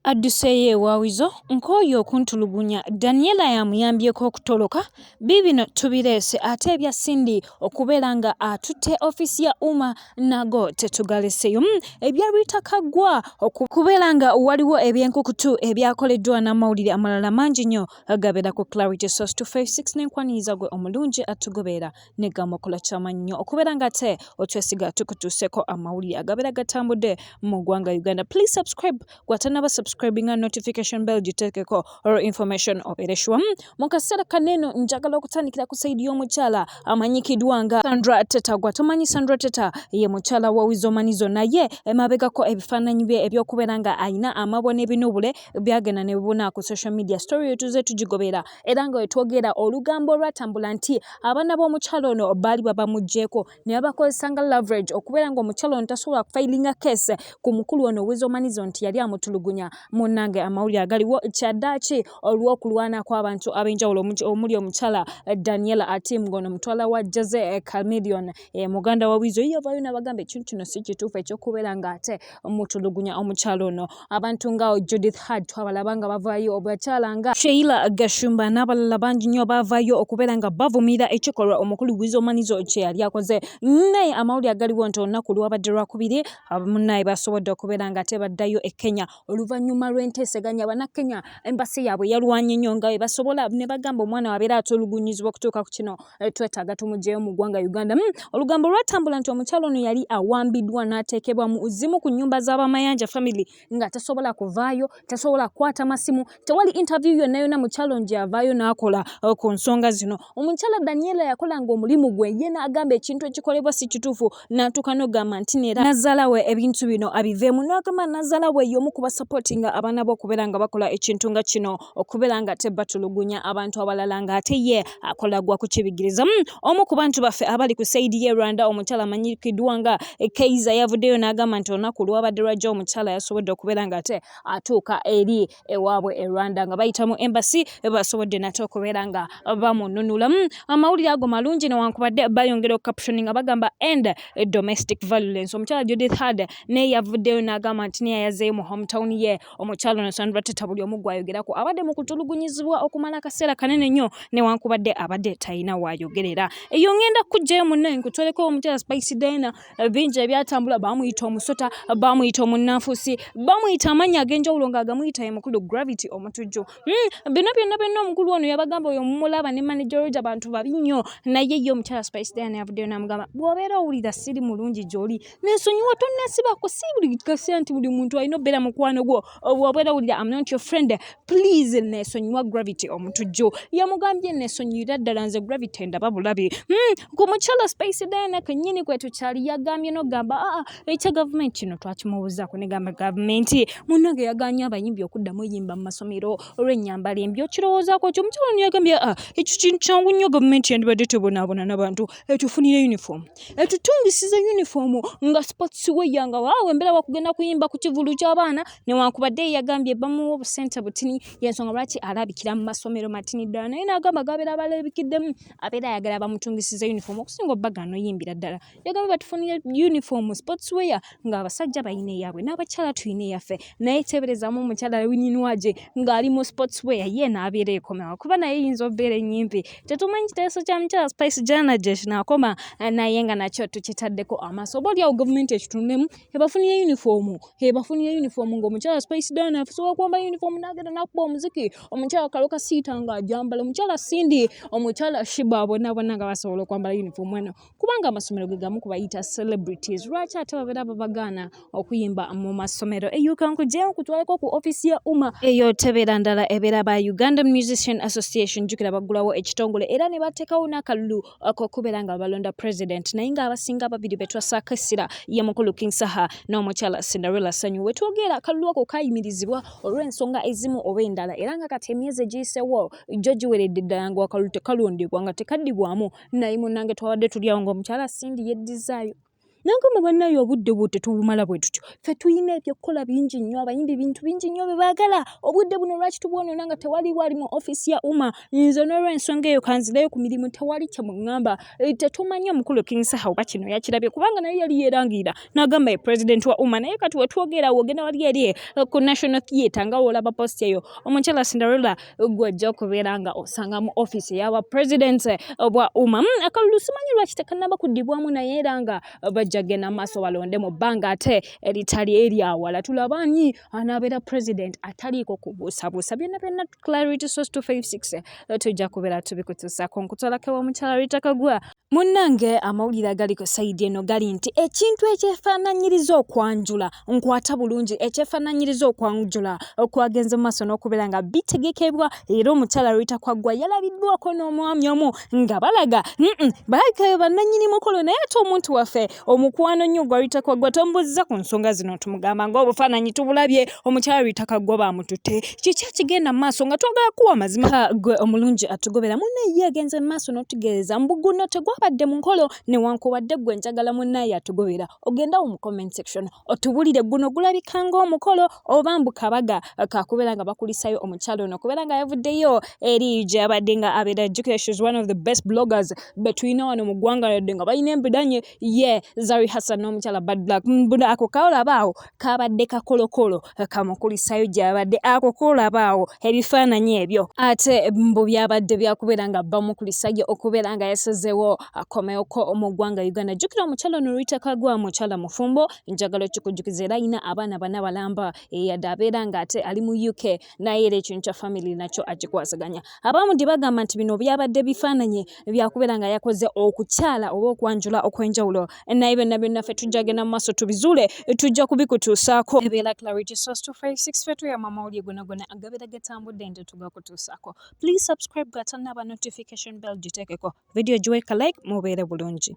adduseeyo ewa Weasel nkooye okuntulugunya, Daniella y'amuyambyeko okutoloka, biibino tubireese ate ebya Cindy okubeera nga atutte ofiisi ya Umar nago tetugaleseeyo, hmm, ebya Rita Kaggwa okubeera nga waliwo ebyenkukutu ebyakoleddwa n'amawulire amalala mangi nnyo agabeera ku Clarity Source 256 n'enkwaniriza gwe omulungi atugoberera. ne gamakula kyamanyi nnyo okubeera nga ate otwesiga tukutuuseko amawulire agabeera gatambudde mu ggwanga uganda please subscribe gwatanaba subscribinga notification bell giteekeko or information obeere shuwa hmm, mu kaseera kaneeno njagala okutandikira ku saidi y'omukyala amanyikiddwa nga sandra teta gwa tomanyi sandra teta ye mukyala wa wizomanizo naye emabegako ebifaananyi bye ebyokubeera nga alina amabwa n'ebinuubule byagenda ne bibuna ku social media story etuze tugigobeera era nga wetwogera olugambo olwatambula nti abaana b'omukyalo ono baali babamugyeko ne babakozesa nga laverage okubeera nga omukyalo ono tasobola kufailinga kese ku mukulu ono owezomanizo nti yali amutulugunya munange amawulire agaliwo kyaddaaki olw'okulwana kw'abantu ab'enjawulo omuli omukyala daniela atim ngono mutwala wa jose camilion e, muganda wa wizo yavayo nabagamba ekintu kino si kituufu ekyokubeera nga ate omutulugunya omukyalo ono abantu nga Judith Heard twabalaba nga bavaayo obwakyala nga Sheila Gashumba n'abalala bangi nnyo baavaayo okubeera nga bavumiira ekikolwa omukulu Wizo Manizo kye yali akoze naye amawulire agaliwo nti olunaku lwabadde lwakubiri munnaye basobodde okubeera nga ate baddayo e Kenya oluvannyuma lw'enteeseganya bannakenya embasi yaabwe yalwanye nnyo nga bwe basobola ne bagamba omwana wabeera atulugunyizibwa okutuuka ku kino eh, twetaaga tumugyeyo mu ggwanga uganda mm. olugambo lwatambula nti omukyalo ono yali awambiddwa n'ateekebwa mu zimu ku nnyumba z'abamayanja family nga tasobola kuvaayo tasobola kukwata masimu tewali interview yonna yonna mukyalo ngyavaayo n'akola eh, ku nsonga zino omukyala daniela yakolanga omulimu gwe ye n'agamba ekintu ekikolebwa si kituufu n'atuuka n'ogamba nti neera nazaala we ebintu bino abiveemu n'agamba nazaala we y'omu kuba sapootinga abaana be okubeera nga bakola ekintu nga kino okubeera nga ate batulugunya abantu abalala nga ate ye akola gwa kukibigiriza hmm, omu ku bantu baffe abali ku saidi ye rwanda omukyala amanyikiddwa nga keiza yavuddeyo n'agamba nti olunaku olwabadde lwajja omukyala yasobodde okubeera nga ate atuuka eri ewaabwe e Rwanda nga bayita mu embassy basobodde nate okubeera nga bamununulamu hmm, amawulire ago malungi newankubadde bayongera okukapshoni nga bagamba end domestic violence omukyala Judith Heard naye yavuddeyo n'agamba nti naye yazeeyo mu hometown ye omukyala ono Sandra Teta buli omu gwayogerako abadde mu kutulugunyizibwa okumala akaseera kanene nnyo newankubadde abadde talina waayogerera eyo ngenda kujjayo munnaye nkutoleko omukyala Spice Diana bingi ebyatambula bamuyita omusota bamuyita omunnanfusi bamuyita amannya ag'enjawulo ng'agamuyita ye mukulu gravity omutujju hmm, bino byonna byonna omukulu ono yabagamba oyo mumulaba ne manager roja bantu babi nnyo naye ye omukyala spice diana yavuddeyo namugamba bw'obeera owulira siri mulungi gy'oli nensonyiwa tonnasibako si buli kase nti buli muntu alina obeera mukwano gwo obwobwera wulira am not your friend please nesonyiwa gravity omutujju yamugambye nesonyiyira ddala nze gravity ndaba bulabi hmm, ku mukyala space dina kenyini kwetukyali yagambye nogamba aa ah, ah, ekya gavumenti kino twakimubuzaako negamba gavumenti munange yaganye abayimbi okuddamu yimba mu masomero olwenyambala embi okirowoozako kyo omukyala niyagambye aa ah, ekyo kintu kyangu nnyo gavumenti yandibadde tebonaabona nabantu etufunire uniform etutungisize uniform nga sports weya nga waawe embeera wakugenda kuyimba ku kivulu ky'abaana newankubadde yagambye bamuwa obusente butini yensonga lwaki alabikira mu masomero matini ddala naye n'agamba gabeera balabikiddemu abeera ayagala bamutungisize uniform okusinga obbaga anoyimbira ddala yagambye batufunire uniform sports weya nga abasajja balina eyaabwe n'abakyala tulina eyaffe naye teeberezaamu omukyala wininwaje ng'ali mu sports weya ye n'abeera ekomewa kuba naye eyinza obeera ennyimpi tetumanyi kiteeso kya mukyala spice jana gye kinaakoma naye nga nakyo tukitaddeko amaaso oba olyawo gavumenti ekitunulemu ebafunire yunifoomu ebafunire yunifoomu ng'omukyala spice dana afusobola okwamba yunifoomu n'agenda n'akuba omuziki omukyala kaloka siita ng'ajambala omukyala sindi omukyala shiba bonaabona nga basobola okwambala yunifoomu eno kubanga amasomero ge gamu kubayita celebrities lwaki ate babeera babagaana okuyimba mu masomero eyuka nkugyeyo nkutwaleko ku ofisi ya uma eyo tebeera ndala ebeera ba uganda musician association jukira baggulawo ekitongole era ne bateekawo n'akalulu kokubeera nga balonda president naye nga abasinga ababiri betwasaako essira ye mukulu king saha n'omukyala cinderella sanyu wetwogera akalulu ako kayimirizibwa olw'ensonga ezimu oba endala era nga kati emyezi egiyisewo jjo giweredde ddala nga wakalulu tekalondebwa nga tekaddibwamu naye munange twabadde tuli awo ngaomukyala sindi yeddizaayo nangamba banaye obudde bwo tetubumala bwe tutyo ffe tulina ebyokukola bingi nnyo abayimbi bintu bingi nnyo bye baagala obudde buno lwaki tubwonona nga tewali wali mu ofiisi ya uma nze n'olwensonga eyo kanzireyo ku mirimu tewali kye muŋŋamba eh, tetumanyi omukulu kingsaha oba kino yakirabye kubanga naye yali yeerangira n'agamba ye pulezidenti wa uma naye kati wetwogera wogenda wali eri eh, ku national theatre nga woolaba post eyo omukyala cinderella gwe ojja okubeera nga osanga mu offiisi eyaba president obwa umam akalulu simanyi lwaki tekanaba kuddibwamu naye era nga bajja genda mu maaso balonde mu bbanga ate eritali eryawala tulaba ani anaabeera president ataliiko kubuusabuusa byonna byonna clarity source 256 tujja kubeera tubikutusaako nkutwalako ewa mukyala ritakagwa Munnange amawulire agali ku sayidi eno gali nti ekintu ekyefaananyiriza okwanjula nkwata bulungi ekyefaananyiriza okwanjula okwagenze mu maaso n'okubeera nga bitegekebwa era omukyala lwita kwaggwa yalabiddwako n'omwami omu nga balaga balabika be bannannyini mukolo naye ate omuntu waffe Omukwano nnyo gwa Rita Kaggwa tomubuuzizza ku nsonga zino tumugamba ng'obufaananyi tubulabye omukyala Rita Kaggwa baamututte kiki ekigenda mu maaso nga twagala kuwa amazima gwe omulungi atugobera munne ye agenze mu maaso n'otugeereza mbu guno tegwabadde mu nkolo newankubadde gwe njagala munnaye atugobera ogendawo mu comment section otubulire guno gulabika ng'omukolo oba mbu kabaga kakubeera nga bakulisayo omukyalo ono okubeera nga yavuddeyo eri gyabadde nga abeera jjukira shes one of the best bloggers betulina wano mu ggwanga yadde nga balina embidanye ye zari hassan n'omukyala bad black mbuno ako kaolabaawo kabadde kakolokolo kamukulisayo gyabadde ako kolabaawo ebifaananyi ebyo ate mbu byabadde byakubeera nga bamukulisayo okubeera nga yasazewo akomewoko mu ggwanga uganda jjukira omukyalo ono luyitaka gwa mukyala mufumbo njagala okikujukiza era alina abaana bana balamba eyadde abeera nga ate ali mu uk naye era ekintu kya famiry nakyo akikwasaganya abamu gye bagamba nti bino byabadde bifaananyi byakubeera nga yakoze okukyala oba okwanjula okwenjawulo naye byonna byonna ffe tujja genda mu maaso tubizuule tujja kubikutuusaako ebeera clarity source 256 fe tuyama amawulire gona gona agabeera gatambudde nti tugakutuusaako please subscribe gatanaba notification bell giteekeko vidiyo giweeka like mubeere bulungi